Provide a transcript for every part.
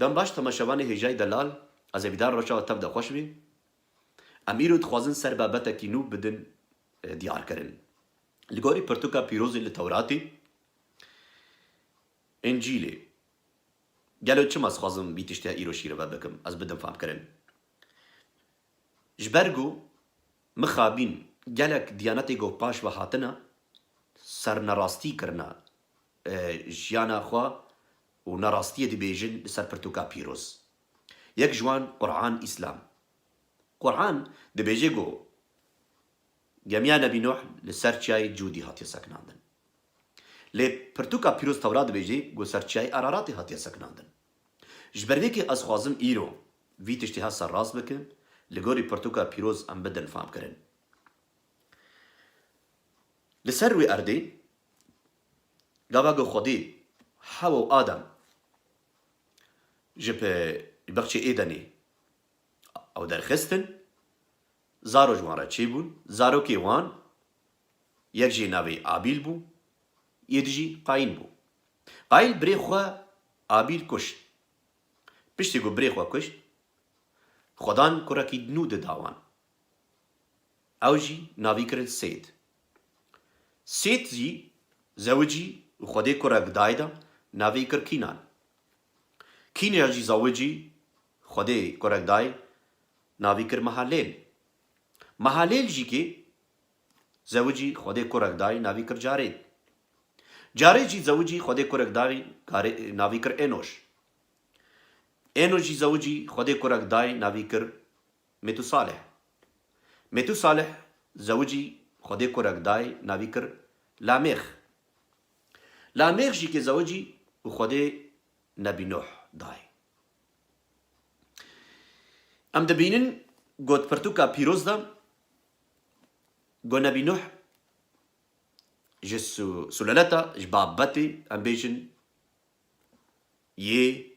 Dem baş temaşevanê hêjayî delal ez ê bîdar reşa tev de xweş bî. Em îro dixwazin ser babetekî nû bidin diyarkirin. Li gorî pirtûka pîrozê li Tewratê, Încîlê gelo çima ez dixwazim vî tiştê îro şîrove bikim ez bidin famkirin? Ji ber ku mixabîn gelek diyanetê ku paş ve hatine sernerastî kirine. jiyana xwe û na rastiyê dibêjin li ser pirtûka pîroz. Yek ji wan Qur'an Îslam. Qur'an dibêje ku gemiya Nebî Nuh li ser çiyayê Cûdî hatiye sekinandin. Lê pirtûka pîroz Tewrat dibêje ku ser çiyayê Araratê hatiye sekinandin. Ji ber vê kê ez xwazim îro vî tiştê hev serrast bikim, li gorî pirtûka pîroz em bidin famkirin. Li ser wê erdê Gava ku Xwedî Hewa û Adam ji bi bexçê Êdenê ew derxistin, zaro ji wan re çêbûn, zarokê wan yek jî navê Abîl bû, yê di jî Qayîn bû. Qayîl birê xwe Abîl kuşt. Piştî ku birê xwe kuşt, Xwedan kurekî nû di da wan. Ew jî navî kirin Sêd. Sêd jî zewicî û xwedê kurek dayda, navî kir Kînan. Kînyan jî zewicî xwedê kurek day, navî kir Mehalêl. Mehalêl jî kê zewicî xwedê kurek day, navî kir Carêd. Carêd jî zewicî xwedê kurek day, navî kir Ênoş. Ênoş jî zewicî xwedê kurek day, navî kir. Metu Salih Metu Salih zewicî Xwedê kurek day navî kir Lamêx. Lamêx jî kê zewicî û Xwedê Nebî Nuh day. Em dibînin ku di pirtûka pîroz de ku Nebî Nuh ji suleleta, ji babetê em bêjin yê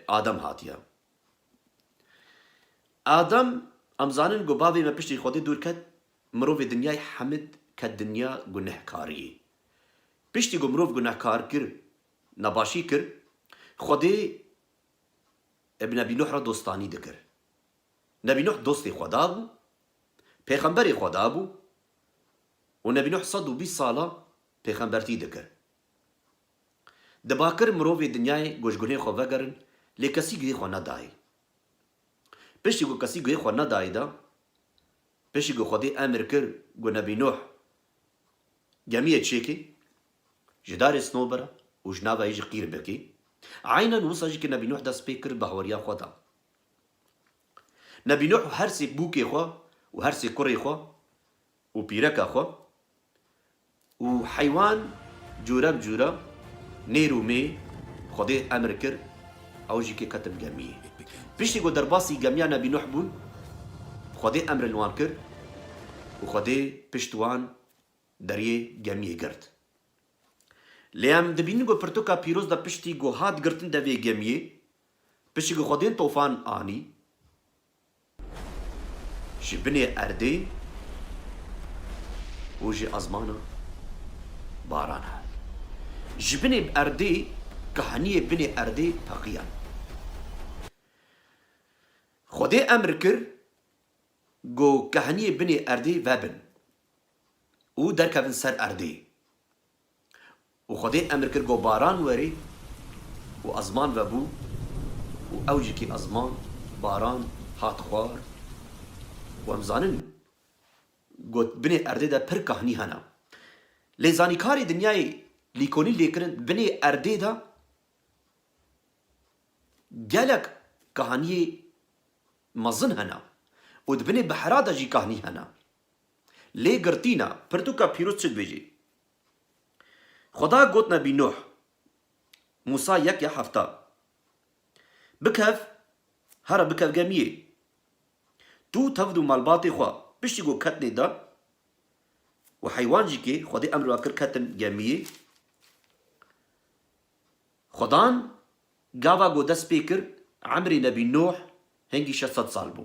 Adam hatiye. Adam, em zanin ku bavê me piştî Xwedê dûr ket, mirovê dinyayê Hemid ket dinya gunehkariyê. Piştî ku mirov gunehkar kir, nebaşî kir, Xwedê bi Nebî Nuh re dostanî dikir. Nebî Nuh dostê Xweda bû, pêxemberê Xweda bû û Nebî Nuh sed û bîst sala pêxembertî dikir. Di bakir mirovê dinyayê ku ji gunê xwe vegerin lê kesî guhê xwe nedayê. Piştî ku kesî guhê xwe nedayê de, piştî ku Xwedê emir kir ku Nebî Nuh gemiyê çêkê, ji darê snobira û ji nava yê jî qîr bikê, eynen wisa jî ku Nebî Nuh dest pê kir bi hawariya xwe de. Nebî Nuh û her sê bûkê xwe û her sê kurê xwe û pîreka xwe û heywan cûre bi cûre mêr û mê Xwedê emr kir ew jî kê ketin gemiyê. Piştî ku derbasî gemiya Nebî Nuh bûn Xwedê emrê li wan kir û Xwedê pişt wan deriyê gemiyê girt. Lê em dibînin ku pirtûka pîroz de piştî ku hat girtin devê gemiyê, piştî ku Xwedên tofan anî, Ji binê erdê û ji ezmana baran hat. Ji binê erdê kahaniyê binê erdê teqiyan. Xwedê emr kir ku kahaniyê binê erdê vebin û derkevin ser erdê. Û Xwedê emr kir ku baran werî û ezman vebû û ew ji kî ezman, baran, hat xwar û em zanin got binê erdê de pir kahnî hene. Lê zanî karê dinyayê lîkonî lêkirin binê erdê de gelek kahniyê mezin hene û di binê bihera de jî kahnî hene. Lê girtîna pirtûka pîroz çi dibêjî? Xweda got Nebî Nuh, Mûsa yek ya hefta, Bikev, here bikev gemiyê, tu û tevd û malbatê xwe. Piştî ku ket nê dan û heywan jî kê Xwedê emr ve kir ketin gemiyê, Xwedan gava ku dest pê kir emrê Nebî Nuh hingî şeş sed sal bû.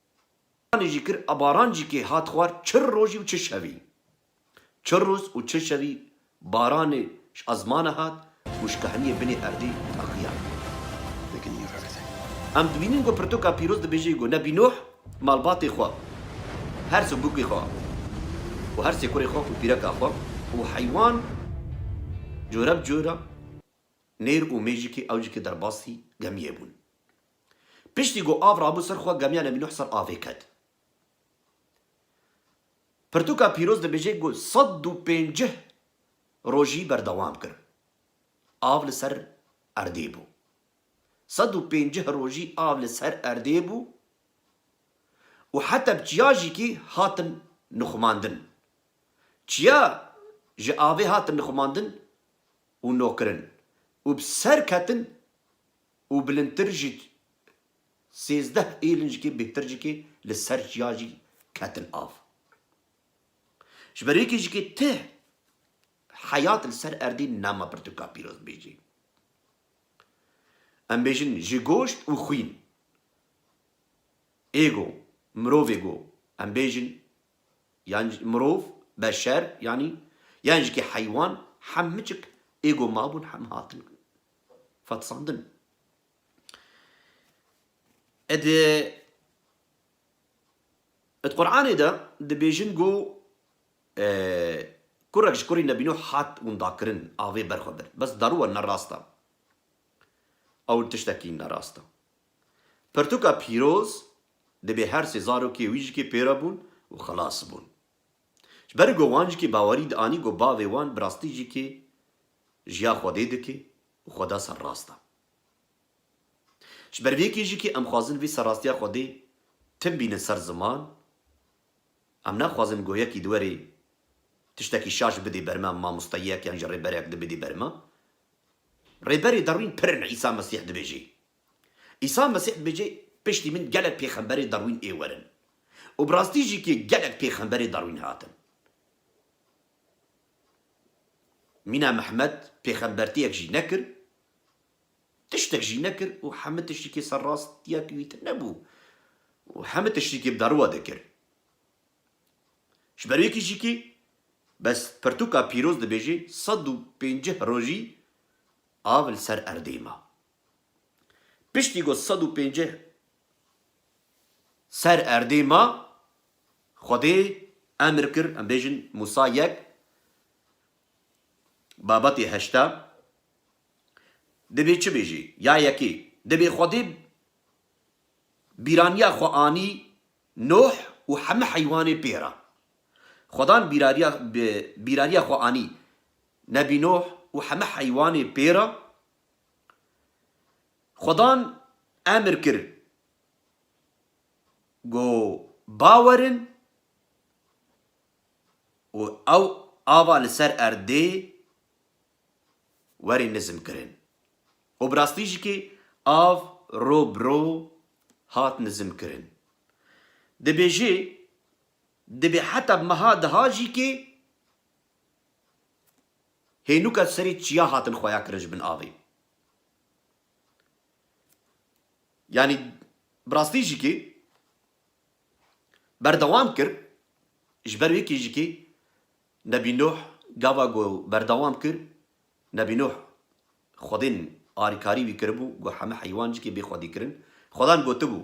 Baranê jî kir a baran jî kê hat xwar çi rojî û çi şevî. Çi roz û çi şevî baranê ji ezmana hat û ji kehniyê binê erdê teqiyan. Em dibînin ku pirtoka pîroz dibêjê ku Nebî Nuh malbatê xwe, her sê bûkê xwe û her sê kurê xwe û pîreka xwe û heywan cora bi cora nêr û mê jî kê ew jî kê derbasî gemiyê bûn. Piştî ku av rabû ser xwe gemiya Nebî Nuh ser avê ket. Pirtûka pîroz dibêje ku sed û pêncîh rojî berdewam kir. Av li ser erdê bû. Sed û pêncîh rojî av li ser erdê bû û heta bi çiya jîkî hatin nixumandin. Çiya ji avê hatin nixumandin û nokirin û bi ser ketin Û bilindtir ji sêzdeh êlincikê bêhtir jikê li ser çiya jî ketin av. Ji ber yekê jikê ti heyat li ser erdê nema pirtûka pîroz bêjê. Em bêjin ji goşt û xwîn. Ê go, mirovê go, em bêjin yan mirov, beşer yanî, yan jikê heywan, hem miçik ê go mabûn hem hatin Fatisandin e di di Quranê de dibêjin ku kurek ji kurî Nebî Nuh hat windakirin avê ber xwe bir. Bes daruwa ne rast e. Ew tiştekî ne rast e. Pirtûka pîroz dibê her sê zarokê wî jikê pê re bûn û xilas bûn. Ji ber ku wan jikê bawerî dianî ku bavê wan bi rastî jikê Jiya Xwedê dike û Xweda ser rast e. Ji ber vê yekê jî ke em xwazin vê serrastiya Xwedê tim bînin ser ziman, em naxwazin goyekî di werê tiştekî şaş bidê ber me, mamosteyek yan jî rêberek di bidê ber me. Rêberê derwîn pirin Îsa Mesîh dibêje. Îsa Mesîh dibêje piştî min gelek pêxemberê derwîn ê werin. Û bi rastî jî ke gelek pêxemberê derwîn hatin. Mîna Mehmed pêxembertiyek jî nekir, tiştek jî nekir û hemû tiştikê ser rastiya wî tê nebû û hemû tiştikê bi darowa dikir. Ji ber wê kişîkê bes pirtûka pîroz dibêje sed û pêncîh rojî av li ser erdê ma. Piştî ku sed û pênceh ser erdê ma, Xwedê emr kir, em bêjin Mûsa yek, babetê heşta, divê çi bêjê? Ya yekê, divê Xwedê bîraniya xwe anî Nuh û heme heywanê pê re. Xwedan bîrariya xwe anî Nebî Nuh û heme heywanê pê re. Xwedan emir kir ku ba werin û ew ava li ser erdê werî nizm kirin. Û bi rastî jî kê av ro bi ro hat nizm kirin. Dibêje, dibê heta bi meha diha jî kê, Hênûka serî çiya hatin xuya kirin ji bin avê. Yanî bi rastî jî kê berdewam kir ji ber wê kê jî kê Nebî Nuh gava ku berdewam kir Nebî Nuh xwedên alîkarî wî kiribû ku heme heywan jî kê bê xwedî kirin. Xwedan gotibû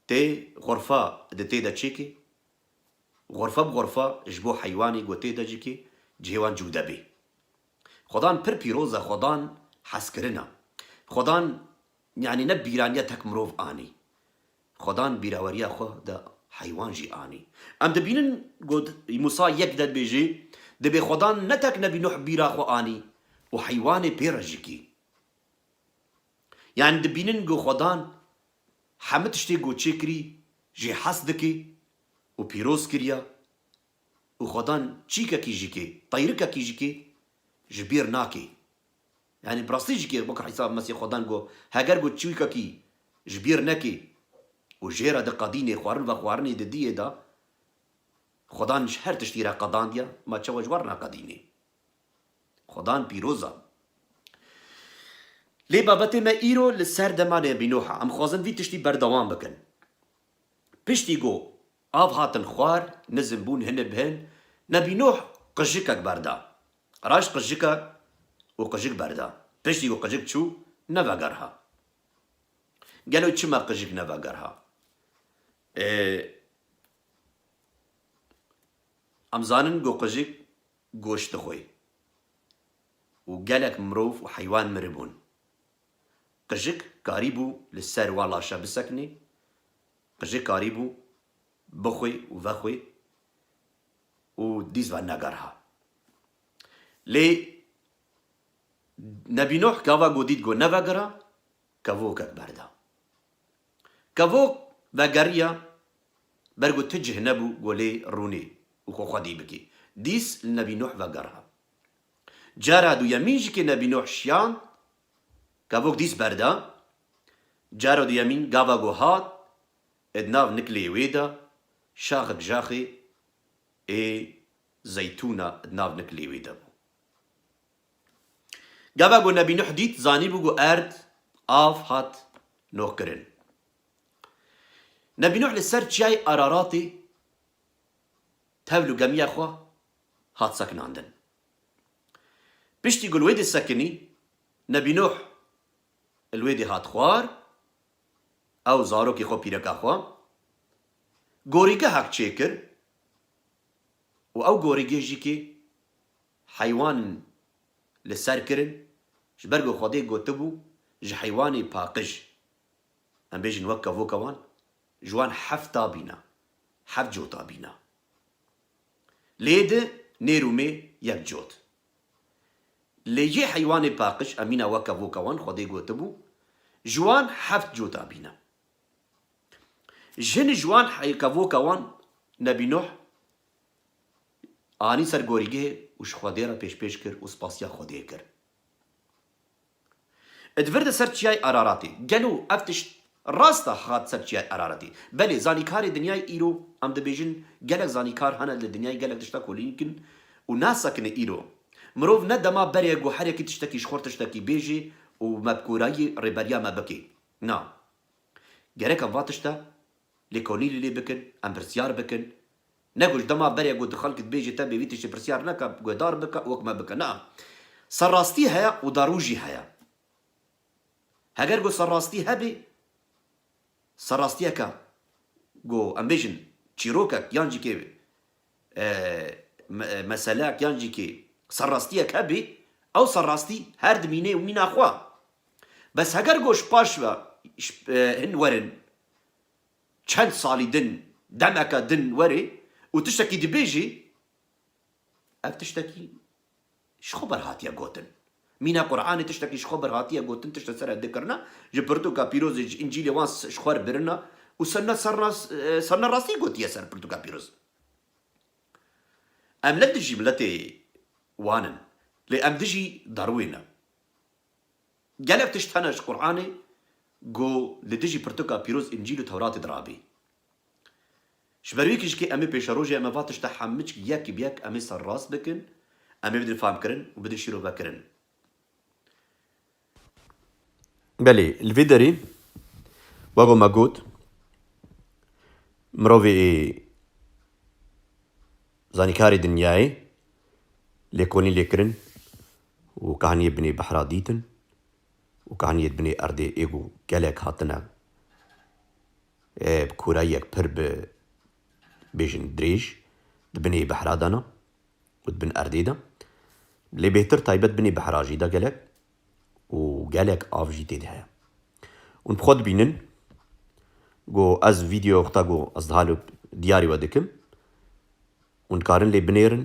tê xurfa di tê de çêkê. Xorfe bi xorfe ji bo heywanê gotê de jikê cihê wan cûde bê. Xwedan pir pîroz e xwedan hezkirin e. Xwedan yanî ne bîraniya tek mirov anî. Xwedan bîraweriya xwe de heywan jî anî. Em dibînin got Mûsa yek de dibêjê dibê xwedan ne tek nebî Nuh bîra xwe anî û heywanê pê re jikê. Yanî dibînin got xwedan Hemû tiştê ku çêkirî jê hes dike û pîroz kiriya û xwedan çîkekî jî ke, qeyrikekî jî ke ji bîr nake. Yanî bi rastî jî ke weke Îsa Mesîh xwedan got, heger ku çîkekî ji bîr neke û jê re diqedîne xwarin vexwarinê di diyê de, xwedan ji her tiştî re qedandiya, ma çawa ji we re naqedîne? Xwedan pîroz a. Lê babetê me îro li ser dema nebînoh a. Em dixwazin vî tiştî berdewam bikin. Piştî ku av hatin xwar, nizm bûn hin bi hin, nebînoh qijikek berda. Raşt qijike û qijik berda. Piştî ku qijik çû, nevegerha. Gelo çima qijik nevegerha? Ee, em zanin ku qijik goşt dixwe û gelek mirov û heywan miribûn. Qijik karîbû li ser wan laşa bisekinê, qijik karîbû bixwe û vexwe û dîs ve negerha. Lê Nebî Nuh gava ku dît ku nevegera, Kevokek berda. Kevok vegeriya ber ku ti cih nebû ku lê rûnê û xwe xwedî bikî. Dîs li Nebî Nuh vegera. Cara duyemîn jî kê Nebî Nuh şiyand, kevok dîs berda. Cara duyemîn gava ku hat ê di nav nikilê wê de şaxek jaxê ê zeytûna di nav nikilê wê de bû. Gava ku Nebî Nuh dît, zanîbû ku erd, av, hat nohkirin. Nebî Nuh li ser çiyayê Araratê tevl û gemiya xwe hat sekinandin. Piştî ku li wê dê sekinî, Nebî Nuh li wê dê hat xwar, ew, zarokê xwe, pîreka xwe, gorîgehek çêkir û ew gorîgê jî kê Heywan li ser kirin, ji ber ku Xwedê gotibû, Ji heywanê paqij. Em bêjin wek kevoka wan, ji wan hefta bîna, heft cota bîna. Lê di nêr û mê yek cot. Lê jê heywanê paqij, em mîna wek kevoka wan, Xwedê gotibû, Ji wan heft cota bîna. Jin ji wan kevoka wan, Nebî Nuh, Anî ser gorîgehê û ji Xwedê re pêşpêş kir û spasiya Xwedê kir. Id vir di ser Çiyayê Araratê. Gelo ev tişt rast e hat ser Çiyayê Araratê? Belê, zanîkarê dinyayê îro em dibêjin gelek zanîkar hene li dinyayê gelek tişta kolîn dikin û nasekine îro. Mirov ne dema berê guherekî tiştekî ji xwe re tiştekî bêjê û mebkorayî rêberiya me bike. Na. Gerek em va tişte lêkolînê lê bikin, em pirsyar bikin, Ne guh dema berê ku di xelk dibêjî tevbê vî tiştî pirsyar neke, guhdar bike û wek me bike. Naa. Serrastî heye û darû jî heye. Heger ku serrastî hebê, serrastiyeke ku em bêjin çîrokek yan jî kê meselek yan jî kê serrastiyek hebê, ew serrastî her dimîne û mîna xwe. Bes heger ku ji paş ve hin werin, Çend salî din, demeke din were û tiştekî dibêjî, ev tiştekî ji xwe ber hatiye gotin. Mîna Quranê tiştekî ji xwe ber hatiye gotin, tişt li ser ev dikirina, ji pirtûka pîrozê, ji Încîlê wan ji xwe birina û serna rastî gotiye ser pirtûka pîroz. Em ne dijî miletê wan in, lê em dijî Darwin in. Gelek tişt hene ji Quranê ku li dijî pirtuka pîroz Încîl û Tewratê de rabê. Ji ber wê ku ji kê em ê pêşerojê em ê va tişta hemçg yek bi yek em ê serrast bikin, em ê bidin famkirin û bidin şîrovekirin. Belê, li vê derê wek ku me got mirovê ê zanîkarê dinyayê lêkolîn lê kirin Û kaniyê binê behra dîtin û kaniyê di binê erdê êg û gelek hatine bi korayiyek pir bi bêjin dirêj di binê behra de ne û di bin erdê de lê bêhtir taybet binê behra jî de gelek û gelek av jî têde heye. Hûn bi xwe dibînin ku ez vîdyoya xwe ta ku ez diha li diyarê we dikim hûn dikarin lê binêrin.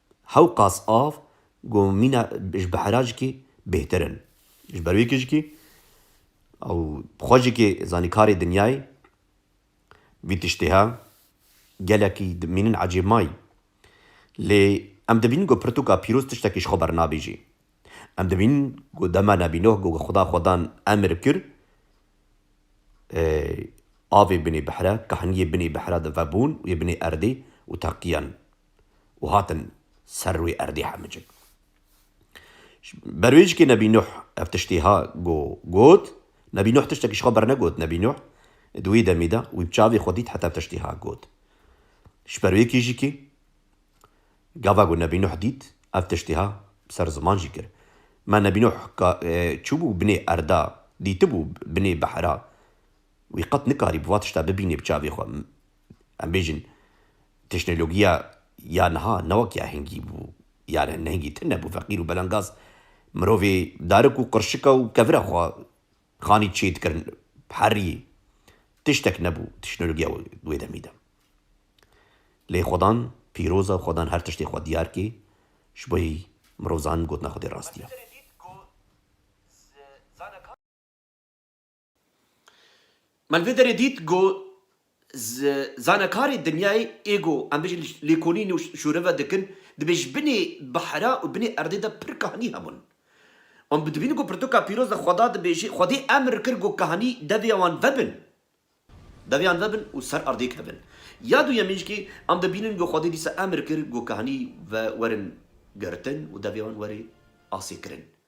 Hewqas av ku mîna ji bihera jikî bêhtir in. Ji ber wê ku jikî ew bi xwe jikê zanîkarê dinyayê vî tiştê he. Gelekî dimînin ecêb mayî. Lê em dibînin ku pirtûka pîroz tiştekî ji xwe bernabêjî. Em dibînin ku dema Nebî Nuh ku Xweda xwe dan emir kir avê binê bihre, kahniyê binê bihre di ve bûn û yê binê erdê û teqiyan. û hatin ser wî erdê hemicin. Ji berwêjikê Nebî Nuh ev tiştê ha go got, Nebî Nuh tiştekî ji xwe bernegot, Nebî Nuh di wê demê de wî bi çavê xwe dît heta ev tiştê ha got. Ji ber wê kîjikê gava ku Nebî Nuh dît ev tiştê ha bi ser ziman jî kir. Me Nebî Nuh ka çûbû binê erda, dîtibû binê behra wî qet nikarî bi va tişta bibînê bi çavê xwe. Em bêjin tişnologiya ya niha ne wek ya hingî bû, yane ne hingî tune bû, feqîr û belengaz mirovê darik û qirşika û kevira xwe xanî çê dikirin bi herî tiştek nebû tişnologiya wê demî de. Lê xwedan pîroz e, xwedan her tiştê xwe diyar kê, ji bo mirov zanin gotina xwedê rast ye. Melvederê dît ku zanekarê dinyayê ê ku em bijîn lêkolîn û şûreve dikin, dibê ji binê bihra û binê erdê de pir kahanî hebin. Wan bi dibînin ku pirtûka pîroz de xweda dibêje, xwedê emr kir ku kahanî devê wan vebin, devê wan vebin û ser erdê kevin. Ya duyemîn jî em dibînin ku xwedê dîsa emr kir ku kahanî ve werin girtin û devê wan were asê kirin.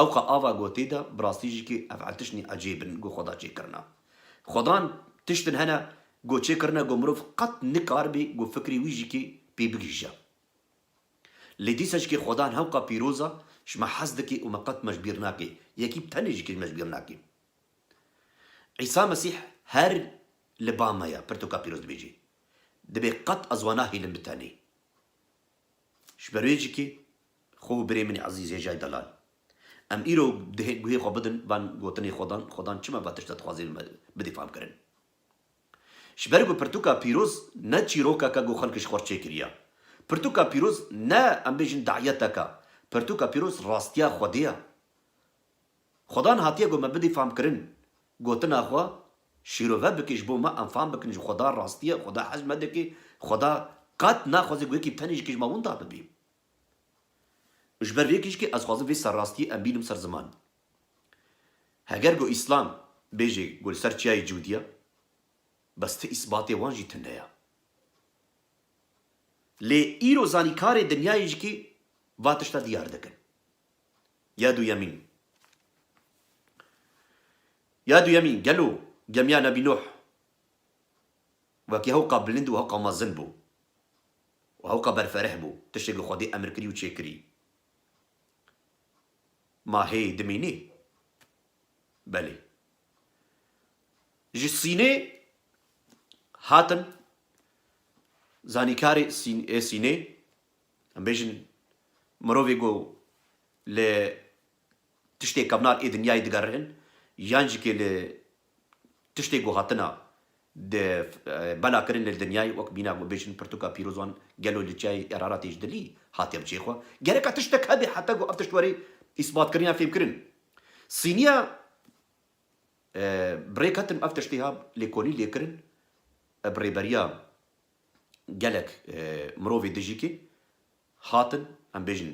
Ew ka ava gotî da bi rastî jî ki ev ertişnî ecêb in ku xwe da çêkirina. Xwedan tişt in hene ku çêkirine ku mirov qet nikaribî ku fikrê wî jî ki pê bigihîje. Lê dîsa jî ki xwedan hewka pîroz a ji me hez dike û me qet me ji bîr nake, yekî tenê jî ki me ji bîr nake. Îsa Mesîh her li ba me ye pirtoka pîroz dibêje. Dibê qet ez wan nahêlin bi tenê. Ji ber wê cikê xwe û birê min ê ezîz Hêjay Delal. Em îro dihê guhê xwe bidin van gotinê Xwedan, Xwedan çima va tişta dixwaze li me bidê fam kirin. Ji ber ku pirtûka pîroz ne çîrokeka ku xelk ji xwe re çêkiriya. Pirtûka pîroz ne em bêjin daiyeteka, pirtûka pîroz rastiya Xwedê ya. Xwedan hatiye got me bidî famkirin. Gotina xwe şîrove bike ji bo me em fam bikin ji Xweda rastiye, Xweda hez me dike, Xweda qet naxwaze ku yekî tenê ji kej ma winda bibî. Ji ber vê kişkê ez xwazim vê serrastiyê em bînim ser ziman. Heger ku Îslam bêje ku li ser çiyayê cûd ye, bes ti îsbatê wan jî tune ye. Lê îro zanîkarê dinyayê jî va tişta diyar dikin. Ya duyemîn Ya duyemîn gelo gemiya Nebî Nuh wekî hewqa bilind û hewqa mezin bû û hewqa berfereh bû, tiştêk li Xwedê emir kirî û çêkirî. Ma hê dimînê? Belê. Ji Sînê hatin zanîkarê Sînê Em bêjin mirovê ku li tiştê kevnar ê dinyayê digerin yan jî kê li tiştê ku hatina di bela kirin li dinyayê wek mîna ku bêjin pirtûka pîrozan gelo li çiyayê Eraratê ji dilî hatiye bi cihê xwe gereka tiştek hebe heta ku ev tişt were îsbatkirin yan fêmkirin. Sîniya bi rê ketim ev tiştê hat lêkolîn lêkirin bi rêberiya. Gelek mirovê dijîkê hatin em bêjin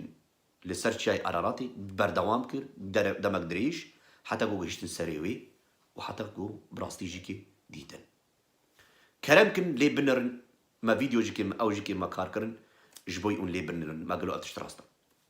li ser Çiyayê Araratê berdewam kir demek dirêj heta ku gihiştin serê wê û heta ku bi rastî jî kê dîtin. Kerem kin lê binirin me vîdeo jî kê me ew jî kê me kar kirin ji bo ûn lê binirin me gelo ev tişt rast e.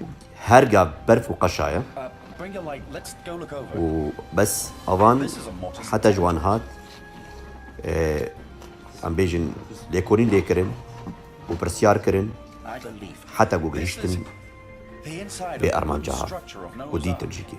û herga berf û qeşa ye û bes avan heta ji wan hat em bêjin lêkolîn lê kirin û pirsyar kirin heta ku gihîştin vê armanca ha û dîtin jî kê.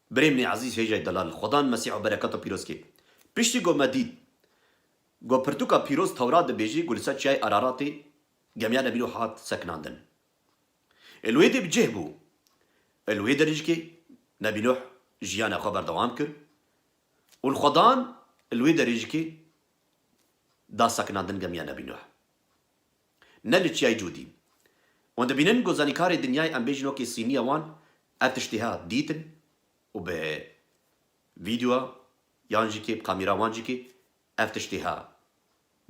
Birê min ê ezîz Hêjay Delal li Xwedan Mesîh û berekat û pîrozkê. Piştî ku me dît ku pirtûka pîroz Tewrat dibêjî ku li ser çiyayê Araratê gemiya Nebî Nuh hat sekinandin. Ê li wê dê bi cih bû. Ê li wê derîjikê Nebî Nuh jiyana xwe berdewam kir û li Xwedan li wê derîjikê da sekinandin gemiya Nebî Nuh. Ne li çiyayê Cûdîn. Wan dibînin ku zanîkarê dinyayê em bêjin wekî sîniya wan ev tiştê ha dîtin û bi vîdyoa yan jî kê bi kamîra wan jî kê ev tiştê ha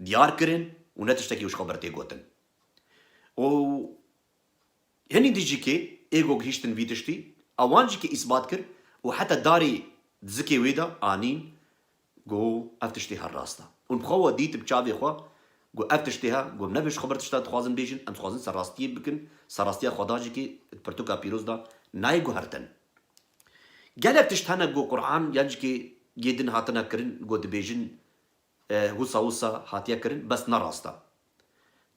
diyar kirin û ne tiştekî ku ji xwe bir tê gotin û hinî din jî kê ê ku gihîştin vî tiştî a wan jî kê îsbat kir û heta darê di zikê wê de anîn Got, Ev tiştê her rast e. Hûn bi xwe we dît bi çavê xwe. Got, Ev tiştê he. Got, Nebe ji xwe bir tişta dixwazin bêjin. Em dixwazin serrastiyê bikin. Serrastiya xwedajikê di pirtûka pîroz de nayê guhertin. Gelek tişt hene ku Qur'an yan ji kê yê din hatine kirin ku dibêjin wisa wisa hatiye kirin bes ne rast e.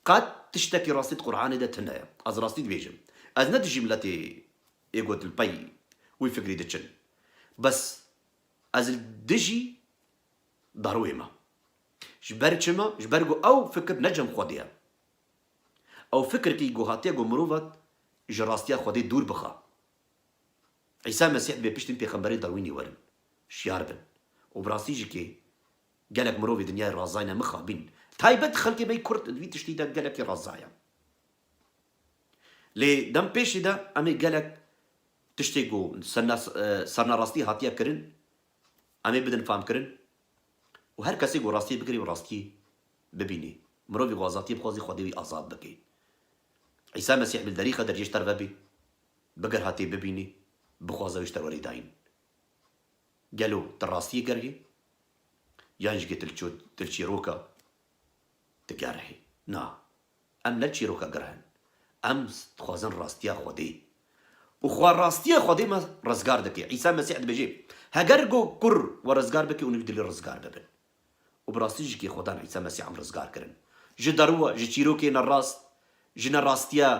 Qet tiştekî rastî di Qur'anê de tine ye. Ez rastî dibêjim. Ez ne dijî miletê ê ku li pey wî fikrî diçin. Bes Ez li dijî Darwê me. Ji ber çi me? Ji ber ku ew fikir ne cem Xwedê ye. Ew fikirkî ku hatiye ku mirovet ji rastiya Xwedê dûr bixe. Îsa Mesîh dibê piştî pêxemberên Darwînî werin, şiyar bin. Û bi rastî jî kê gelek mirov ê dinyayê razayne mixabîn. Taybet xelkê me ê kurd di vî tiştî de gelekî razaye. Lê dem pêşî de em ê gelek tiştê ku sernarastî hatiye kirin em ê bidin famkirin û her kesê ku rastiyê bikirî û rastiyê bibînê. Mirovî ku azatiyê bixwazî xwedê wî azad bike. Îsa Mesîh li derî qeder jê ji te re vebê, biger hatê bibînê, bixwaze wê ji te werî dayîn. Gelo tu rastiyê gerg î? Yan jî ke tu li çîroka tu gerg î? Na. Em ne çîroka girh in. Em dixwazin rastiya Xwedê. Û xwe rastiya Xwedê me rizgar dike. Îsa Mesîh dibêje, Heger go kur we rizgar bike û nû dilê rizgar bibin. Û bi rastî jî kê Xwedan Îsa Mesîh em rizgar kirin. Ji deruwa, ji çîrokê nerast, ji ne rastiya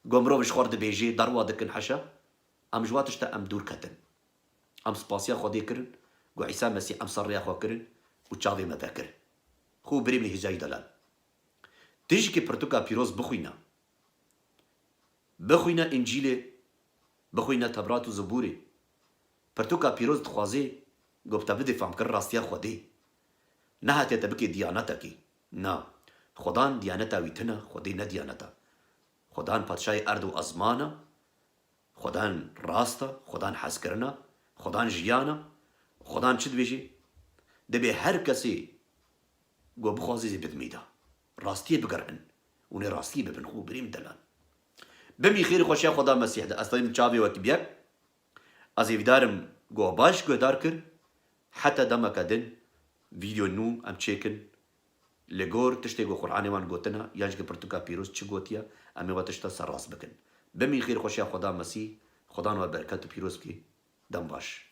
go mirov ji xwe dibêje, deruwa dikin heşa. Em ji wa tişta em dûr ketin. Em spasiya Xwedê kirin go Îsa Mesîh em ser rêya xwe kirin û çavê me vekir. Xwe û birê min Hêzayî Delal. Tu jî ki pirtuka pîroz bixwîne, bixwîne Încîlê, bixwîne Tevrat û Zebûrê. Pirtuka pîroz dixwazê ku bi te bidê famkirina rastiya Xwedê. Nehatiye te bikê diyanetekî. Na, Xwedan diyaneta wî tune, Xwedê ne diyaneta. Xwedan Patişayê erd û ezman e, Xwedan rast e, Xwedan hezkirin e, Xwedan jiyan e. Xwedan çi dibêjê? Dibê her kesê. Ku bixwaze zî bidimî da. Rastiyê bigerîn û nê rastiyê bibin xwe birîm delal. Bimî xêrî xwe şiya Xweda Mesîh de. Ez tevîm çavê wekî bîye. Ez hêvîdar im ku we baş guhdar kir. Heta demeke din vîdyoyê nû em çêkin. Li gor tiştê ku Quranê wan gotina yan jî ku pirtûka pîroz çi gotiye em ê we tişta ser rast bikin. Bimî xêrî xwe şiya Xweda Mesîh. Xwedan we bereket û pîroz bike. Dem baş.